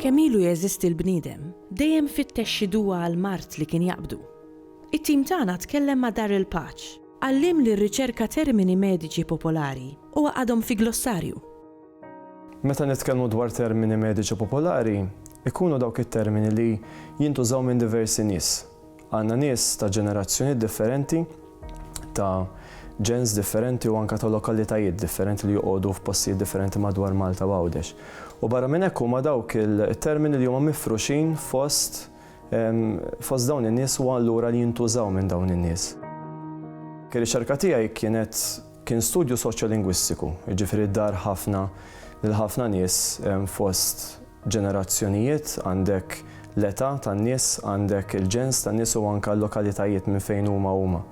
Kemm ilu jeżisti l-bniedem, dejjem fittex xi duwa għall-mard li kien jaqbdu. It-tim tagħna tkellem ma' Dar il-Paċ, għalliem li rriċerka termini mediċi popolari u għaqadhom fi glossarju. Meta nitkellmu dwar termini mediċi popolari, ikunu dawk it-termini li jintużaw minn diversi nies. Għandna nies ta' ġenerazzjonijiet differenti, ta' ġens differenti u anke ta' lokalitajiet differenti li joqogħdu f'postijiet differenti madwar Malta u Għawdex. U barra minn hekk huma dawk it-termini li huma mifruxin fost fost dawn in-nies u allura li jintużaw minn dawn in-nies. Ir-riċerka tiegħi kienet Kien studju soċjolingwistiku, jiġifieri dar ħafna lil ħafna nies fost ġenerazzjonijiet, għandek l-età tan-nies, għandek il-ġens tan-nies u anke l-lokalitajiet minn fejn huma huma.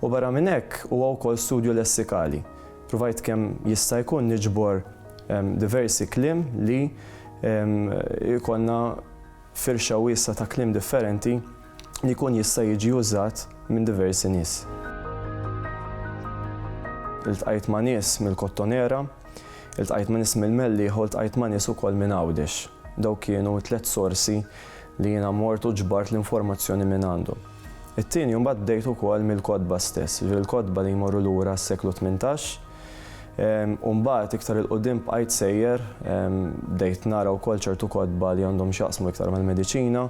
U barra minn hekk huwa wkoll studju lessikali. Pruvajt kemm jista' jkun niġbor diversi kliem li jkollna Firxa wiesgħa ta' kliem differenti li jkun jista' jiġi użat minn diversi nies. Iltqajt ma' nies mill-Kottonera, iltqajt ma' nies mill-Mellieħa u ltqajt ma' nies ukoll minn Għawdex. Dawk kienu t-tliet sorsi li jiena mort u ġbart l-informazzjoni minn għandhom. It-tieni mbagħad bdejt ukoll mill-kotba stess, jiġifieri l-kotba li jmorru lura għas-seklu tmintax. U mbagħad iktar 'il quddiem bqajt sejjer, bdejt nara wkoll ċertu kotba li għandhom x'jaqsmu iktar mal-mediċina.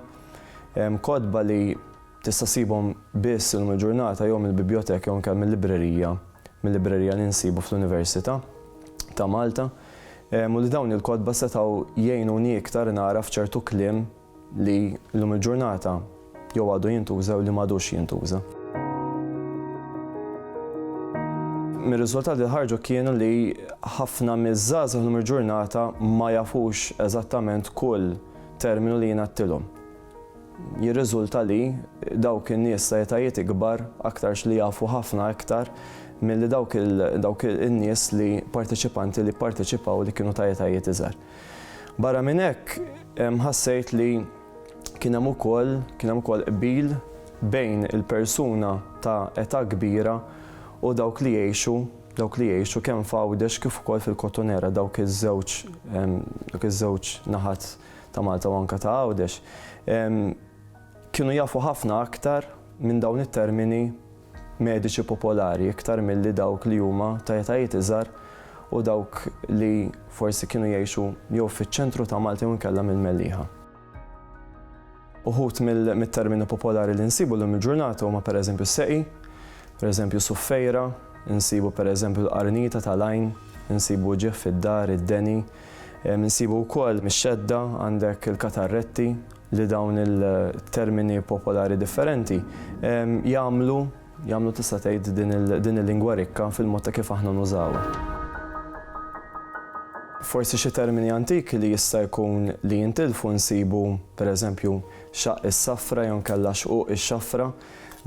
Kotba li tista' ssibhom biss illum il-ġurnata jew mill-bibjoteka jew anke mil-librerija, mil-librerija li nsibu fl-Università ta' Malta. U li dawn il-kotba setgħu jgħinuni iktar nagħraf ċertu kliem, li llum il-ġurnata jew għadu jintuża jew li m'għadux jintuża. Mir-riżultati li ħarġu kienu li ħafna miż-żgħażagħ llum il-ġurnata ma jafux eżattament kull terminu li jingħattilhom. Jirriżulta li dawk in-nies ta' etajiet ikbar aktarx li jafu ħafna iktar milli dawk in-nies li parteċipanti li pparteċipaw li kienu ta' etajiet iżgħar. Barra minn hekk, ħassejt li kien hemm ukoll kien hemm ukoll qbil bejn il-persuna ta' età kbira u dawk li jgħixu dawk li jgħixu kemm f'Għawdex kif ukoll fil-Kottonera, dawk iż-żewġ dawk iż-żewġ naħat ta' Malta u anke ta' Għawdex, kienu jafu ħafna aktar minn dawn it-termini mediċi popolari iktar milli dawk li huma ta' etajiet iżgħar u dawk li forsi kienu jgħixu jew fiċ-ċentru ta' Malta jew inkella mill-Mellieħa. Uħud mit-termini popolari li nsibu llum il-ġurnata huma pereżempju s-seqi, pereżempju suffejra, insibu pereżempju l-qarnita tal-għajn, insibu ġieħ fid-dar, id-deni, Insibu wkoll mix-xedda għandek il-katarretti li dawn il-termini popolari differenti jagħmlu jagħmlu tista' tgħid din il-lingwa rikka fil-mod ta' kif aħna nużawha. Forsi xi termini antiki li jista' jkun li jintilfu nsibu pereżempju xaqq is-safra jew inkella xquq ix-xafra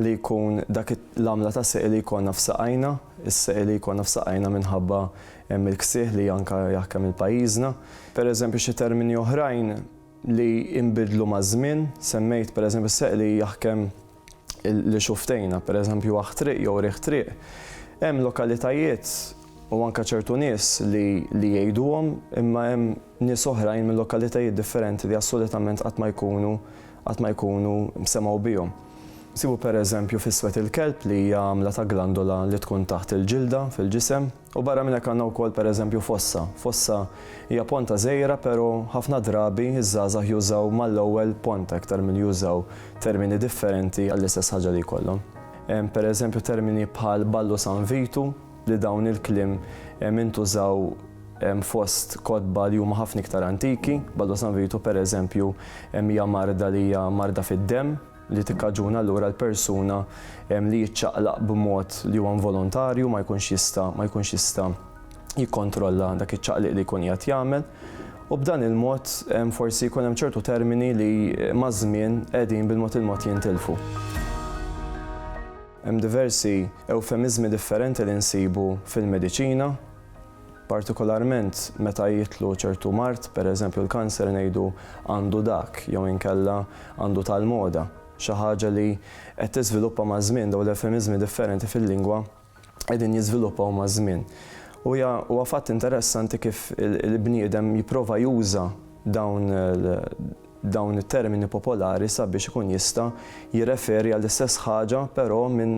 li jkun dak l-għamla ta' seqi li jkollna f'saqajna, is-seqi li jkollna f'saqajna minħabba Hemm il-ksieħ li anke jaħkem il-pajjiżna. Pereżempju xi termini oħrajn li inbidlu maż-żmien, semmejt pereżempju s-seq li jaħkem li xuftejna, pereżempju aħ triq jew riħ triq. Hemm lokalitajiet u anke ċertu nies li li jgħiduhom imma hemm nies oħrajn minn lokalitajiet differenti li assolutament qatt ma jkunu qatt ma jkunu semgħu bihom. Nsibu pereżempju fis-swed il-kelb li hija għamla ta' glandola li tkun taħt il-ġilda fil-ġisem. U barra minn hekk għandna wkoll pereżempju fossa. Fossa hija ponta żgħira pero ħafna drabi ż-żgħażagħ jużaw mal-ewwel ponta iktar milli jużaw termini differenti għall-istess ħaġa li jkollhom. Hemm pereżempju termini bħal Ballu San Vitu li dawn il-kliem intużaw fost kotba li huma ħafna iktar antiki. Ballu San Vitu pereżempju hija marda li hija marda fid-demm. li tikkaġuna allura l-persuna li jiċċaqlaq b'mod li huwa involontarju ma jkunx jista' ma jkunx jista' jikkontrolla dak iċ-ċaqliq li jkun qiegħed jagħmel u b'dan il-mod forsi jkun hemm ċertu termini li maż-żmien qegħdin bil-mod il-mod jintilfu. Hemm diversi ewfemiżmi differenti li nsibu fil-mediċina Partikolarment meta jitlu ċertu mard, per eżempju l-kanser ngħidu għandu dak jew inkella għandu tal-moda. Xi ħaġa li qed tiżviluppa maż-żmien, dawn l-ewfemiżmi differenti fil-lingwa qegħdin jiżviluppaw maż-żmien. U hija huwa fatt interessanti kif il-bniedem jipprova juża dawn dawn it-termini popolari sabiex ikun jista' jirreferi għall-istess ħaġa però minn